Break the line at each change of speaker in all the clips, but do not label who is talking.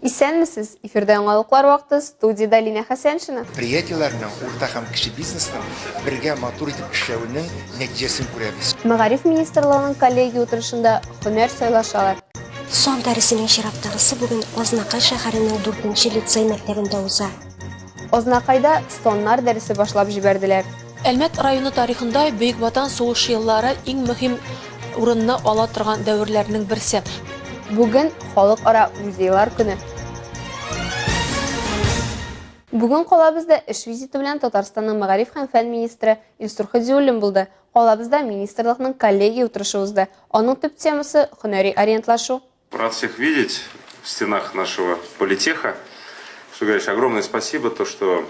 Исәнмесез! Эфирда яңалыклар вакыты, студиядә Лина Хәсәншина. Предприятиеләрнең, урта
һәм кече бизнесның бергә матур итеп эшләвенең нәтиҗәсен күрәбез. Мәгариф министрлыгының
коллегия утырышында һөнәр сайлашалар. Сон дәресенең
чираттагысы бүген Азнакай шәһәренең 4 нче лицей мәктәбендә уза. Азнакайда
Соннар дәресе башлап җибәрделәр. Әлмәт районы
тарихында Бөек Ватан сугышы еллары иң мөһим урынны ала торган дәверләрнең берсе. Бүген
Халыкара музейлар көне. Бүген калабызда эш визиты белән Татарстанның мәгариф һәм фән министры Илсур Хәдиуллин булды. Калабызда министрлыкның коллегия утырышы узды. Аның төп темасы, һөнәри ориентлашу. Рад всех видеть
в стенах нашего политеха. Что говоришь, огромное спасибо, то что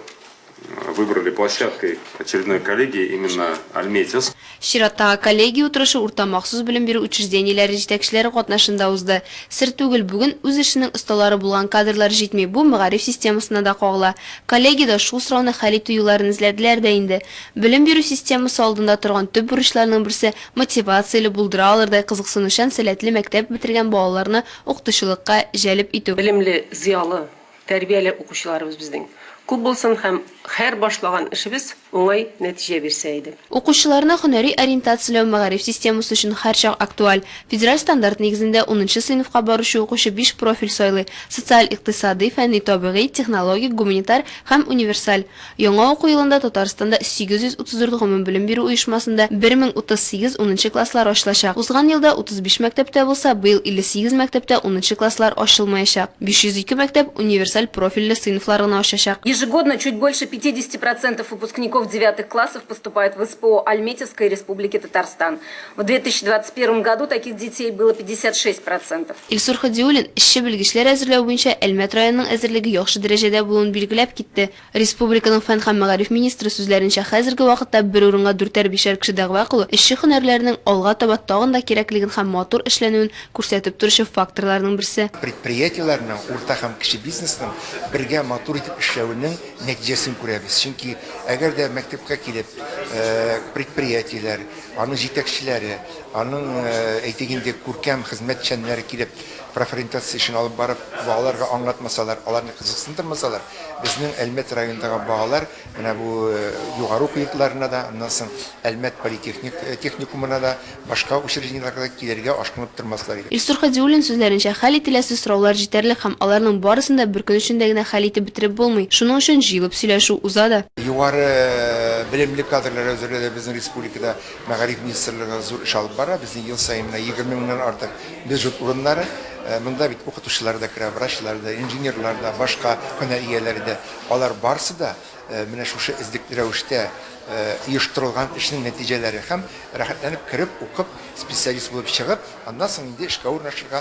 выбрали площадкой очередной коллегии именно Альметьевск. Чираттагы
коллегия утырышы урта махсус белем бирү учреждениеләре җитәкчеләре катнашында узды. Сер түгел, бүген үз эшенең осталары булган кадрлар җитми, бу мәгариф системасына да кагыла. Коллегиядә шул сорауны хәл итү юлларын эзләделәр дә инде. Белем бирү системасы алдында торган төп бурычларның берсе, мотивацияле, булдыра алырдай кызыксынучан, сәләтле мәктәп бетергән балаларны укытучылыкка җәлеп итү. Белемле, зыялы,
тәрбияле укучыларыбыз безнең күп булсын һәм һәр башлаган эшебез уңай нәтиҗә бирсә иде. Укучыларны һөнәри
ориентацияләү мәгариф системасы өчен һәрчак актуаль. Федераль стандарт нигезендә унынчы сыйныфка баручы укучы биш профиль сайлый, социаль-икътисадый, фәнни-табигый, технологик, гуманитар һәм универсаль. Яңа уку елында Татарстанда 834 гомумбелем бирү оешмасында 1038 унынчы класслар ачылачак. Узган елда 35 мәктәптә булса, быел 58 мәктәптә унынчы класслар ачылмаячак. 502 мәктәп универсаль профильле сыйныфлар гына ачачак. Ежегодно чуть больше
50 процентов выпускников девятых классов поступают в СПО Альметьевской Республики Татарстан. В 2021 году таких детей было 56 процентов. Илсур Ходиуллин
эшче белгечләр әзерләү буенча Әлмәт районының әзерлеге яхшы дәрәҗәдә булуын билгеләп китте. Республиканың фән һәм мәгариф министры сүзләренчә, хәзерге вакытта бер урынга дүртәр-бишәр кеше дәгъва кылу эшче һөнәрләренең алга таба тагын да кирәклеген һәм матур эшләнүен күрсәтеп торучы факторларның берсе. Предприятиеләрнең,
урта һәм кече бизнесның бергә матур итеп эшләвенең нәтиҗәсен күрәбез. Чөнки әгәр дә мәктәпкә килеп предприятиеләр, Аның җитәкчеләре, аның, әйтик инде, күркәм хезмәтчәннәре килеп, профориентация эшен алып барып, балаларга аңлатмасалар, аларны кызыксындырмасалар, безнең Әлмәт районындагы балалар менә бу югары уку йортларына да, аннан соң Әлмәт политехник техникумына да, башка учреждениеләргә дә килергә ашкынып тормаслар иде. Илсур Һадиуллин сүзләренчә,
хәл ителәсе сораулар җитәрлек һәм аларның барысын да бер көн эчендә генә хәл итеп бетереп булмый, шуның өчен җыелып сөйләшү уза да. Югары
белемле кадрлар әзерләүдә безнең Республикада мәгариф министрлыгы зур эш алып бара. Безнең ел саен менә егерме меңнән артык бюджет урыннары. Монда бит укытучылар да керә, врачлар да, инженерлар да, башка һөнәр ияләре дә. Алар барысы да менә шушы эзлекле рәвештә оештырылган эшнең нәтиҗәләре һәм рәхәтләнеп кереп, укып, специалист булып чыгып, аннан соң инде эшкә урнашырга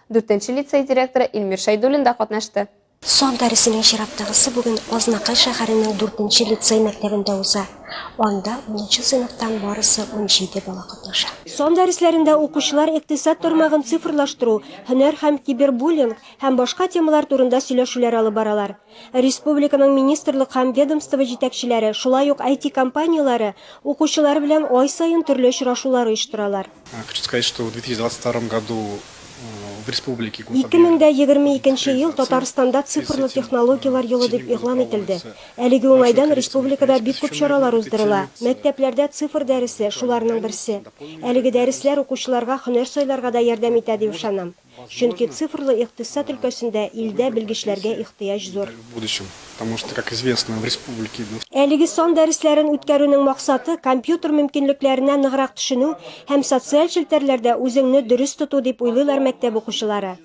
Дүртенче лицей директоры Илмир Шәйдуллин да катнашты. Сон дәресенең
чираттагысы бүген Азнакай шәһәренең дүртенче лицей мәктәбендә уза. Анда унынчы сыйныфтан барысы унҗиде бала катнаша. Сон дәресләрендә укучылар икътисад тармагын цифрлаштыру, һөнәр һәм кибербуллинг һәм башка темалар турында сөйләшүләр алып баралар. Республиканың министрлык һәм ведомство җитәкчеләре, шулай ук IT-компанияләре укучылар белән ай саен төрле очрашулар оештыралар. 2022 ел Татарстанда цифрлы технологияләр елы дип игълан ителде. Әлеге уңайдан республикада бик күп чаралар уздырыла. Мәктәпләрдә цифр дәресе, шуларның берсе. Әлеге дәресләр укучыларга һөнәр сайларга да ярдәм итә дип ышанам. Чөнки цифрлы икътисад өлкәсендә илдә белгечләргә ихтыяҗ
зур. Әлеге сан
дәресләрен үткәрүнең максаты, компьютер мөмкинлекләренә ныграк төшенү һәм социаль челтәрләрдә үзеңне дөрес тоту, дип уйлыйлар мәктәп укучылары.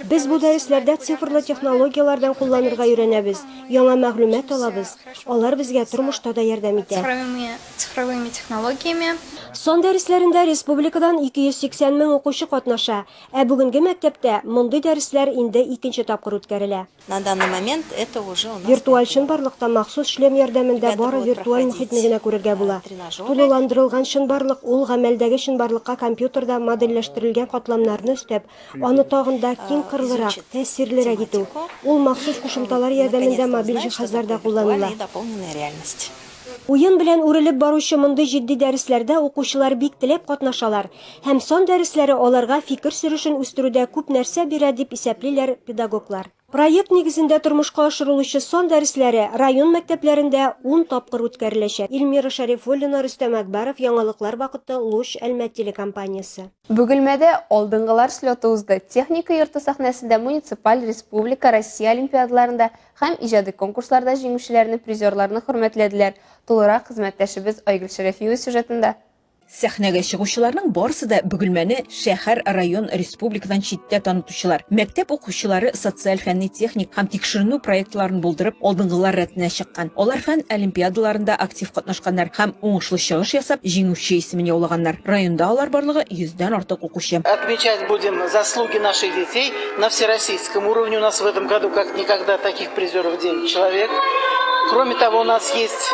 Без бу дәресләрдә
цифрлы технологияләрдән кулланырга өйрәнәбез, яңа мәгълүмат алабыз, алар безгә тормышта да ярдәм итә. цифровыми
технологиями. Сан дәресләрендә
республикадан 280 мең укучы катнаша, ә бүгенге мәктәптә мондый дәресләр инде икенче тапкыр үткәрелә. На данный момент
это уже у нас. Виртуаль чынбарлыкта
махсус шлем ярдәмендә бары виртуаль мохитне генә күрергә була. Тулыландырылган чынбарлык, ул гамәлдәге чынбарлыкка компьютерда модельләштерелгән катламнарны өстәп, Аны тагын да киң кырлырак, тәэсирлерәк итү, ул махсус кушымталар ярдәмендә мобиль җиһазларда кулланыла. Уен белән үрелеп баручы мондый җитди дәресләрдә укучылар бик теләп катнашалар, һәм сан дәресләре аларга фикер сөрешен үстерүдә күп нәрсә бирә, дип исәплиләр педагоглар. Проект нигезендә тормышка ашырылучы сан дәресләре район мәктәпләрендә ун тапкыр үткәреләчәк. Ильмира Шәрифуллина, Рөстәм Әкбаров, Яңалыклар вакыты, Луч, Әлмәт телекомпаниясе. Бөгелмәдә
алдынгылар слеты узды. Техника йорты сәхнәсендә муниципаль, республика, Россия олимпиадаларында һәм иҗади конкурсларда җиңүчеләрне, призерларны хөрмәтләделәр. Тулырак хезмәттәшебез Айгөл Шәрәфиева сюжетында. Сәхнәгә
чыгучыларның барысы да Бөгелмәне шәһәр, район, республикадан читтә танытучылар. Мәктәп укучылары социаль фәнни-техник һәм тикшеренү проектларын булдырып, алдынгылар рәтенә чыккан. Алар фән олимпиадаларында актив катнашканнар һәм уңышлы чыгыш ясап, җиңүче исемен яулаганнар. Районда алар барлыгы йөздән артык укучы. Отмечать будем
заслуги наших детей на всероссийском уровне. У нас в этом году как никогда таких призеров девять человек. Кроме того, у нас есть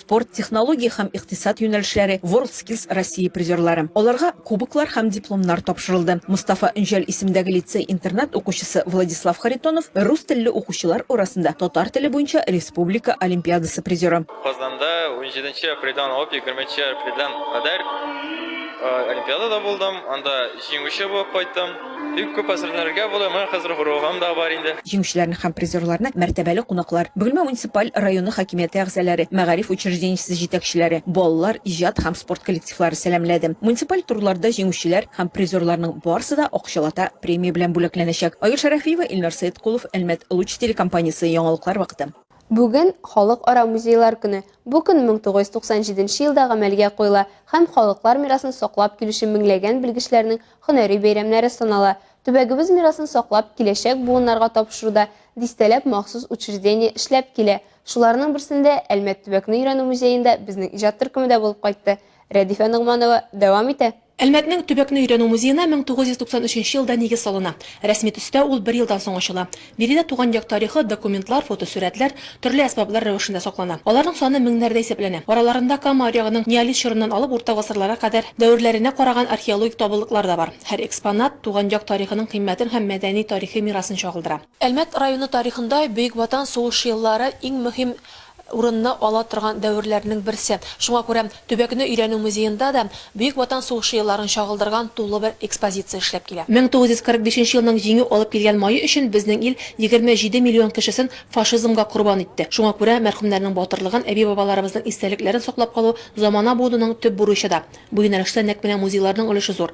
спорт, технология һәм икътисад юнәлешләре WorldSkills Россия призерлары. Аларга кубоклар һәм дипломнар тапшырылды. Мостафа Өнҗәл исемендәге лицей-интернат укучысы Владислав Харитонов рус телле укучылар арасында татар теле буенча республика олимпиадасы призеры. Казанда
унҗиденче апрельдән алып егерменче апрельдән кадәр олимпиадада булдым, анда җиңүче булып кайттым. Бик күп әзерләнергә була, менә хәзер горогым да бар инде. Җиңүчеләрне һәм призерларны
мәртәбәле кунаклар, Бөгелмә муниципаль районы хакимияте әгъзаләре, мәгариф учреждениесе җитәкчеләре, балалар, иҗат һәм спорт коллективлары сәламләде. Муниципаль турларда җиңүчеләр һәм призерларның барысы да акчалата премия белән бүләкләнәчәк. Айгөл Шәрәфиева, Илнар Сәеткулов, Әлмәт Луч телекомпаниясе, Яңалыклар вакыты. Бүген,
Халыкара музейлар көне. Бу көн 1997 нче елда гамәлгә куела һәм халыклар мирасын саклап килүче меңләгән белгечләрнең Һөнәри бәйрәмнәре санала. Төбәгебез мирасын саклап, киләчәк буыннарга тапшыруда дистәләп махсус учреждение эшләп килә. Шуларның берсендә, Әлмәт төбәкне өйрәнү музеенда безнең иҗат төркеме дә булып кайтты. Рәдифә Ногманова дәвам итә. Әлмәтнең төбәкне
өйрәнү музеена 1993 елда нигез салына. Рәсми төстә ул бер елдан соң ачыла. Биредә туган як тарихы, документлар, фотосурәтләр, төрле әсбаплар рәвешендә саклана. Аларның саны меңнәрдә исәпләнә. Араларында Кама аръягының неолит чорыннан алып урта гасырларга кадәр дәверләренә караган археологик табылдыклар да бар. Һәр экспонат туган як тарихының кыйммәтен һәм мәдәни-тарихи мирасын чагылдыра. Әлмәт районы тарихында Бөек Ватан сугышы еллары иң мөһим урынны ала торган дәверләрнең берсе. Шуңа күрә төбәкне өйрәнү музеенда да Бөек Ватан сугышы елларын чагылдырган тулы бер экспозиция эшләп килә. 1945 елның Җиңү алып килгән мае өчен безнең ил 27 миллион кешесен фашизмга корбан итте. Шуңа күрә мәрхүмнәрнең батырлыгын, әби-бабаларыбызның истәлекләрен саклап калу замана буынының төп бурычы да. Бу юнәлештә нәкъ менә музейларның өлеше зур.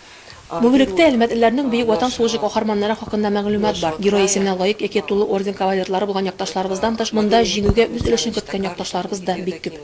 Бу
бүлектә әлмәтлеләрнең Бөек Ватан сугышы каһарманнары хакында мәгълүмат бар. Герой исеменә лаек яки тулы орден кавалерлары булган якташларыбыздан тыш, монда Җиңүгә үз өлешен керткән якташларыбыз да бик күп.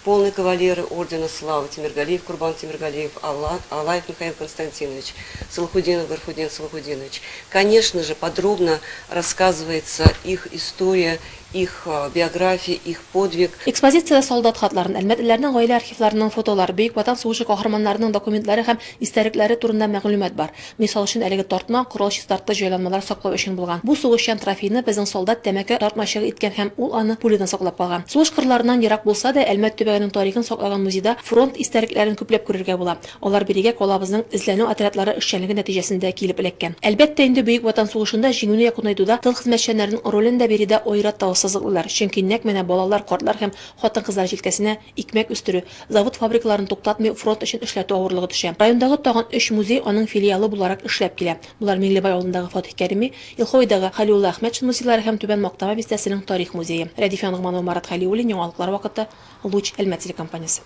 Полный кавалеры
ордена Славы, Тимергалиев Курбан Тимергалиев, Алаев Михаил Константинович, Салахутдинов Гарфутдин Салахутдинович. Конечно же, подробно рассказывается их история. Их биография, их подвиг. Экспозициядә солдат
хатларын, әлмәтлеләрнең гаилә архивларының фотолары, Бөек Ватан сугышы каһарманнарының документлары һәм истәлекләре турында мәгълүмат бар. Мисал өчен, әлеге тартма, корал чистарткыч җайланмалар саклау өчен булган. Бу сугышчан трофейны безнең солдат тәмәке тартмачыгы иткән һәм ул аны пулядан саклап калган. Сугыш кырларыннан ерак булса да, Әлмәт төбәгенең тарихын саклаган музейда фронт истәлекләрен күпләп күрергә була. Алар бирегә калабызның эзләнү отрядлары эшчәнлеге нәтиҗәсендә килеп эләккән. Әлбәттә инде, Бөек Ватан сугышында җиңүне якунайтуда тыл хезмәтчәннәренең ролен дә биредә аерата ассызыклыйлар, чөнки нәкъ менә балалар, картлар һәм хатын-кызлар җилкәсенә икмәк өстерү, завод-фабрикаларын туктатмый фронт өчен эшләтү авырлыгы төшә. Райондагы тагын өч музей аның филиалы буларак эшләп килә. Болар Миңлебай авылындагы Фатыйх Кәрими, Елховыйдагы Хәлиулла Әхмәтшин музейлары һәм Түбән Мактама бистәсенең тарих музее. Рәдиф Янгманова, Марат Хәлиуллин, Яңалыклар вакыты, Луч, Әлмәт телекомпаниясе.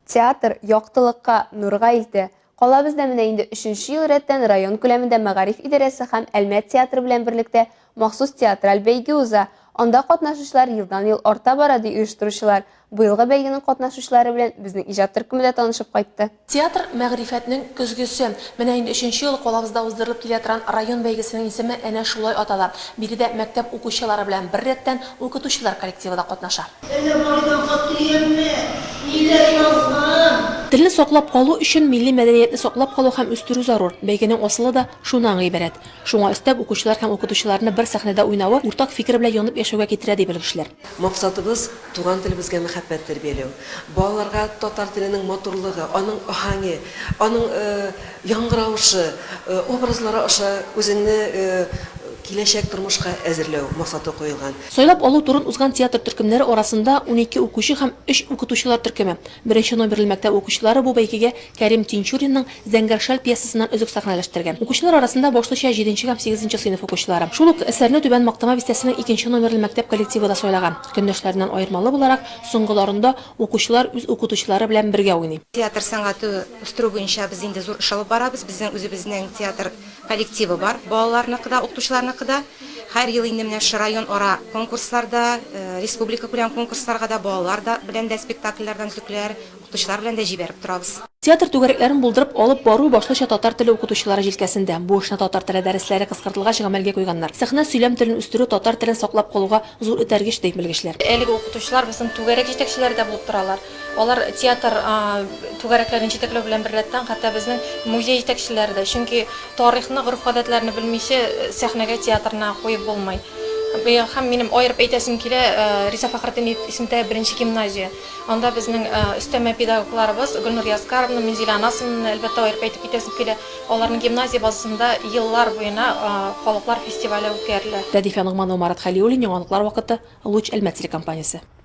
Театр,
яктылыкка, нурга илтә. Калабызда менә инде өченче ел рәттән район күләмендә мәгариф идарәсе һәм Әлмәт театры белән берлектә махсус театраль бәйге уза. Анда катнашучылар елдан-ел арта бара, ди оештыручылар. Быелгы бәйгенең катнашучылары белән безнең иҗат төркеме дә танышып кайтты. Театр, мәгърифәтнең
көзгесе. Менә инде өченче ел калабызда уздырылып килә торган район бәйгесенең исеме әнә шулай атала. Биредә мәктәп укучылары белән беррәттән укытучылар коллективы да катнаша. Әллә кайдан хат килгәнме? Ниләр язган? Телне саклап калу өчен милли мәдәниятне саклап калу һәм үстерү зарур. Бәйгенең асылы да шунан гыйбарәт. Шуңа өстәп, укучылар һәм укытучыларны бер сәхнәдә уйнавы уртак фикер белән янып яшәүгә китерә, ди белгечләр. Максатыбыз,
туган телебезгә мәхәббәт тәрбияләү. Балаларга татар теленең матурлыгы, аның аһәңе, аның яңгыравышы, образлары аша үзеңне киләчәк тормышка әзерләү максаты куелган. Сайлап алу турын узган
театр төркемнәре арасында унике укучы һәм өч укытучылар төркеме. Беренче номерлы мәктәп укучылары бу бәйгегә Кәрим Тинчуринның Зәңгәр шәл пьесасыннан өзек сәхнәләштергән. Укучылар арасында башлыча җиденче һәм сигезенче сыйныф укучылары. Шул ук әсәрне Түбән Мактама бистәсенең икенче номерлы мәктәп коллективы да сайлаган. Көндәшләреннән аермалы буларак, соңгыларында укучылар үз укытучылары белән бергә уйный. Театр сәнгате
үстерү буенча без инде зур эш алып барабыз. Безнең үзебезнең театр. Коллективы бар, балаларныкы да, укытучыларныкы да. Һәр ел инде менә шушы районара конкурсларда, республикакүләм конкурсларга да балалар да белән дә спектакльләрдән өзекләр, укытучылар белән дә җибәреп торабыз. Театр түгәрәкләрен
булдырып алып бару башлыча татар теле укытучылары җилкәсендә. Бу эшне татар теле дәресләре кыскартылгач гамәлгә куйганнар. Сәхнә сөйләм телен үстерү татар телен саклап калуга зур этәргеч, ди белгечләр. Әлеге укытучылар безнең
түгәрәк җитәкчеләре дә булып торалар. Алар театр түгәрәкләрен җитәкләү белән беррәттән, хәтта безнең музей җитәкчеләре дә, чөнки тарихны, гореф-гадәтләрне белмичә, сәхнәгә театрны куеп булмый. Быел һәм минем аерып әйтәсем килә, Риза Фәхретдинов исемендәге беренче гимназия. Анда безнең өстәмә педагогларыбыз Гөлнур Яскаровна, Минзилә Анасовнаны, әлбәттә, аерып әйтеп китәсем килә. Аларның гимназия базасында еллар буена халыклар фестивале үткәрелә. Рәдифә Ногманова, Марат
Хәлиуллин, Яңалыклар вакыты, Луч Әлмәт телекомпаниясе.